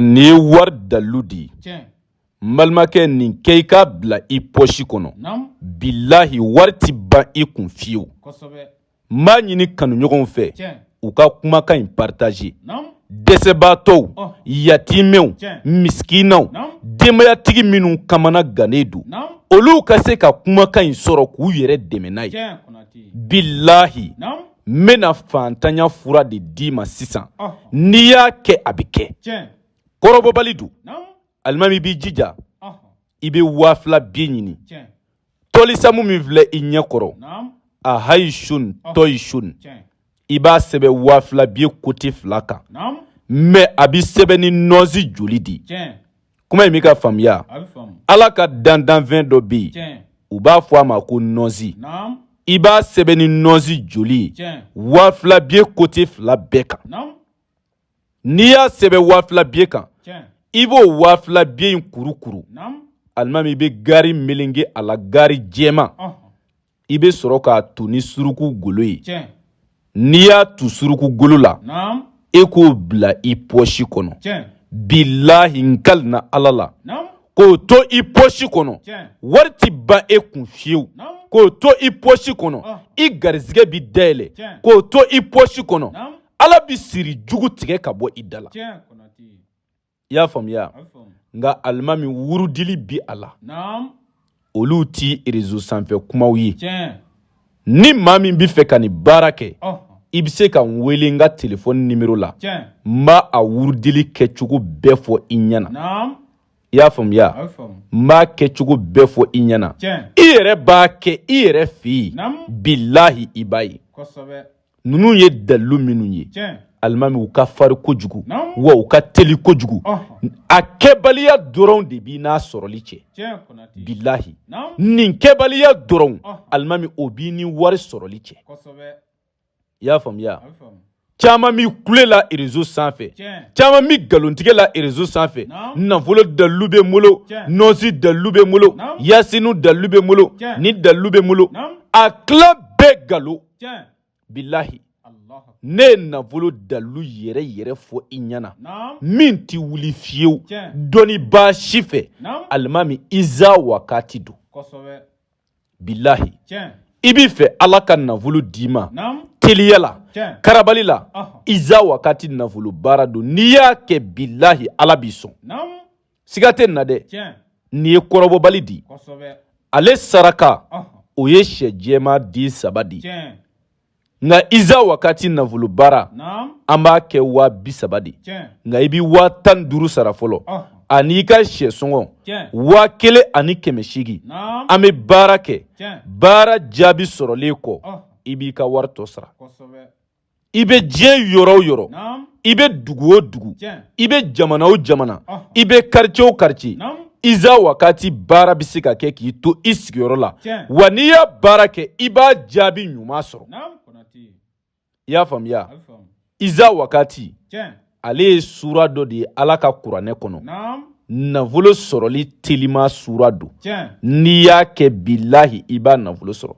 nin ye wari dalilu di n balimakɛ nin kɛ i k'a bila i pɔsi kɔnɔ bilahi wari ti ban i kun fiyewu n b'a ɲini kanuɲɔgɔnw fɛ u ka kumakan in partaze dɛsɛbaatɔw yatimɛw misikinaw denbayatigi minnu kamana gannen don olu ka se ka kumakan in sɔrɔ k'u yɛrɛ dɛmɛ n'a ye bilahi n bɛna faantanya fura de d'i ma sisan n'i y'a kɛ a bɛ kɛ kɔrɔbɔbali don alimami i b'i jija i bɛ waa fila biye ɲini tɔlisamu min filɛ i ɲɛ kɔrɔ a hayi sun tɔyi sun i b'a sɛbɛn waa fila biye kote fila kan mɛ a bɛ sɛbɛn ni nɔɔnsi joli di kuma in b'i ka faamuya ala ka dandanfɛn dɔ bɛ yen u b'a fɔ a ma ko nɔzi i b'a sɛbɛn ni nɔzi joli ye waa fila biye kote fila bɛɛ kan n'i y'a sɛbɛn waa fila biye kan i b'o waa fila biye in kurukuru alimami i bɛ gari melenge a la gari jɛman i bɛ sɔrɔ k'a tu ni suruku golo ye n'i y'a tu suruku golo la e k'o bila i pɔsi kɔnɔ bilahi n kalina ala la k'o to i pɔsi kɔnɔ wari ti ban e kun fiyewu k'o to i pɔsi kɔnɔ i garisɛgɛ bɛ dayɛlɛ k'o to i pɔsi kɔnɔ ala bɛ siri jugu tigɛ ka bɔ i da la i y'a faamuya nka alimami wurudili bi a la olu ti rezo sanfɛ kumaw ye ni maa min bɛ fɛ ka nin baara kɛ i bɛ se ka n wele n ka telefɔni nimero la n b'a a wurudili kɛcogo bɛɛ fɔ i ɲɛna i y'a faamuya n b'a kɛcogo bɛɛ fɔ i ɲɛna i yɛrɛ b'a kɛ i yɛrɛ fɛ yen bilahi i b'a ye ninnu ye dalilu minnu ye alimami u ka fari kojugu wa u ka teli kojugu a kɛbaliya dɔrɔn de b'i n'a sɔrɔli cɛ bilahi nin kɛbaliya dɔrɔn alimami o b'i ni wari sɔrɔli cɛ i y'a faamuya caman bi kule la rezo sanfɛ caman bɛ nkalontigɛ la rezo sanfɛ nafolo dalilu bɛ n bolo nɔnsi dalilu bɛ n bolo yasinu dalilu bɛ n bolo nin dalilu bɛ n bolo a tila bɛɛ nkalon bilahi ne ye nafolo dalilu yɛrɛ yɛrɛ fɔ i ɲɛna min ti wuli fiyewu dɔnnibaa si fɛ alimami iza wakati don bilahi i bi fɛ ala ka nafolo d'i ma teliya la karabali la iza wakati nafolo baara don n'i y'a kɛ bilahi ala b'i sɔn siga tɛ nin na dɛ nin ye kɔrɔbɔbali di ale saraka o ye shɛ jɛma di saba di nka iza wakati nafolo baara an b'a kɛ waa bi saba di nka i bɛ waa tan duuru sara fɔlɔ ani'i ka shɛ sɔngɔ waa kelen ani kɛmɛ seegin an bɛ baara kɛ baara jaabi sɔrɔlen kɔ i b'i ka wari tɔ sara i bɛ diɲɛ yɔrɔ o yɔrɔ i bɛ dugu o dugu i bɛ jamana o jamana i bɛ quartier o quartier iza wakati baara bɛ se ka kɛ k'i to i sigiyɔrɔ la wa n'i y'a baara kɛ i b'a jaabi ɲuman sɔrɔ i y'a faamuya iza wakati ale ye sura dɔ de ye Ala ka kuranɛ kɔnɔ nafolo sɔrɔli telima sura don n'i y'a kɛ bilahi i b'a nafolo sɔrɔ.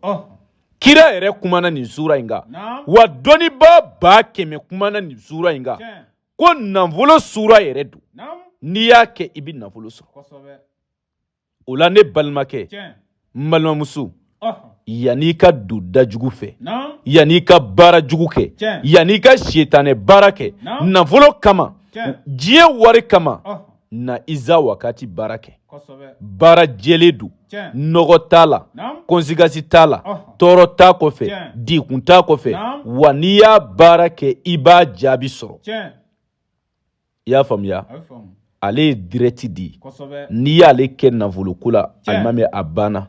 kira yɛrɛ kumana nin sura in kan wa dɔnnibaaba kɛmɛ kumana nin sura in kan ko nafolo sura yɛrɛ don n'i y'a kɛ i bɛ nafolo sɔrɔ o la ne balimakɛ n balimamuso yan'i ka don da jugu fɛ yan'i ka baara jugu kɛ yan'i ka sitanɛ baara kɛ nafolo kama diɲɛ wari kama na iza wakati baara kɛ baara jɛlen don nɔgɔ t'a la conséquence t'a la tɔɔrɔ t'a kɔfɛ degun t'a kɔfɛ wa n'i y'a baara kɛ i b'a jaabi sɔrɔ i y'a faamuya ale ye direct di n'i y'ale kɛ nafoloko la alimami a banna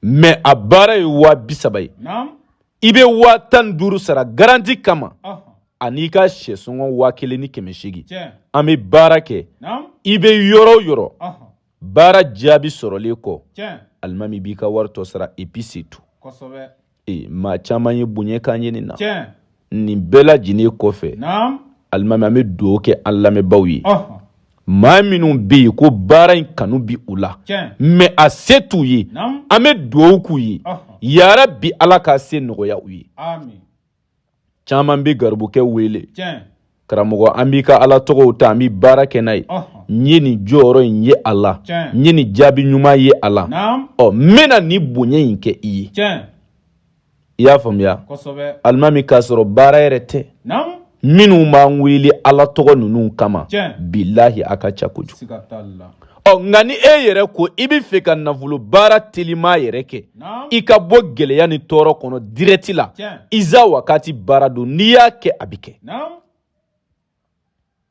mais a baara ye waa bi saba ye i bɛ waa tan ni duuru sara garanti kama an'i ka shɛ sɔngɔ waa kelen ni kɛmɛ seegin an bɛ baara kɛ i bɛ yɔrɔ o yɔrɔ baara jaabi sɔrɔlen kɔ alimami b'i ka wari tɔ sara et puis c'est tout ee maa caman ye bonya k'an ye nin na nin bɛɛ lajɛlen kɔfɛ alimami an bɛ dugawu kɛ an lamɛnbaaw ye maa minnu bɛ yen ko baara in kanu bi u la mais a se t'u ye an bɛ dugawu k'u ye yarabi ala k'a se nɔgɔya u ye caman bɛ garibukɛ wele karamɔgɔ an b'i ka ala tɔgɔw ta an bɛ baara kɛ n'a ye n ye nin jɔyɔrɔ in ye a la n ye nin jaabi ɲuman ye a la ɔ n bɛna nin bonya in kɛ i ye i y'a faamuya alimami k'a sɔrɔ baara yɛrɛ tɛ minnu b'an wele ala tɔgɔ ninnu kama bilahi a ka ca kojugu ɔ nka ni e yɛrɛ ko i bɛ fɛ ka nafolo baara telima yɛrɛ kɛ i ka bɔ gɛlɛya ni tɔɔrɔ kɔnɔ direct la iza wakati baara don n'i y'a kɛ a bɛ kɛ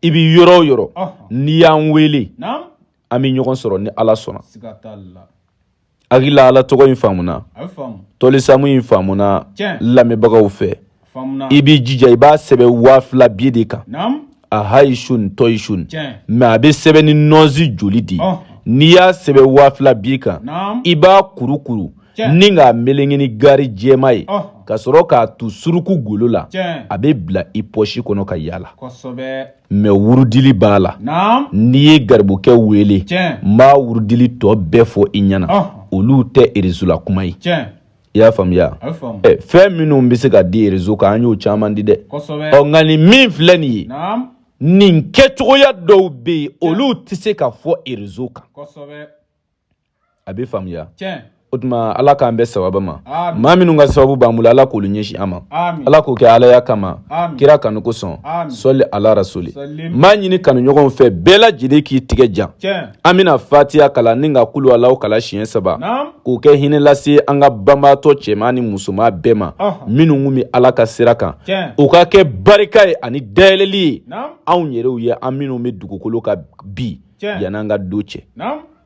i bɛ yɔrɔ o yɔrɔ n'i y'an wele an bɛ ɲɔgɔn sɔrɔ ni ala sɔnna hakilila ala tɔgɔ in faamuna tɔlisamu in faamuna lamɛnbagaw fɛ i b'i jija i b'a sɛbɛn waa fila biye de kan a hayi sun tɔyi sun mɛ a bɛ sɛbɛn ni nɔnsi joli de ye n'i y'a sɛbɛn waa fila biye kan i b'a kurukuru ni k'a melenge ni gari jɛma ye ka sɔrɔ k'a tu suruku golo la a bɛ bila i pɔsi kɔnɔ ka yaala mɛ wurudili b'a la n'i ye garibukɛ wele n b'a wurudili tɔ bɛɛ fɔ i ɲɛna olu tɛ erezo la kuma ye i y'a faamuya fɛn minnu bɛ se ka di erezo kan an y'o caman di dɛ ɔ nka nin min filɛ nin ye nin kɛcogoya dɔw bɛ yen olu tɛ se ka fɔ erezo kan a bɛ faamuya o tuma ala k'an bɛn sababu ma maa minnu ka sababu b'an bolo ala k'olu ɲɛsin an ma ala k'o kɛ alaya kama kira kanu kosɔn sɔli ala rasuli n b'a ɲini kanuɲɔgɔnw fɛ bɛɛ lajɛlen k'i tigɛ jan an bɛna fatiya kalan ni ka kulu alahu kalan siɲɛ saba k'o kɛ hinɛ lase an ka banbaatɔ cɛman ni musoman bɛɛ ma minnu kun bɛ ala ka sira kan o ka kɛ barika ye ani dayɛlɛli ye anw yɛrɛw ye an minnu bɛ dugukolo kan bi yan'an ka don cɛ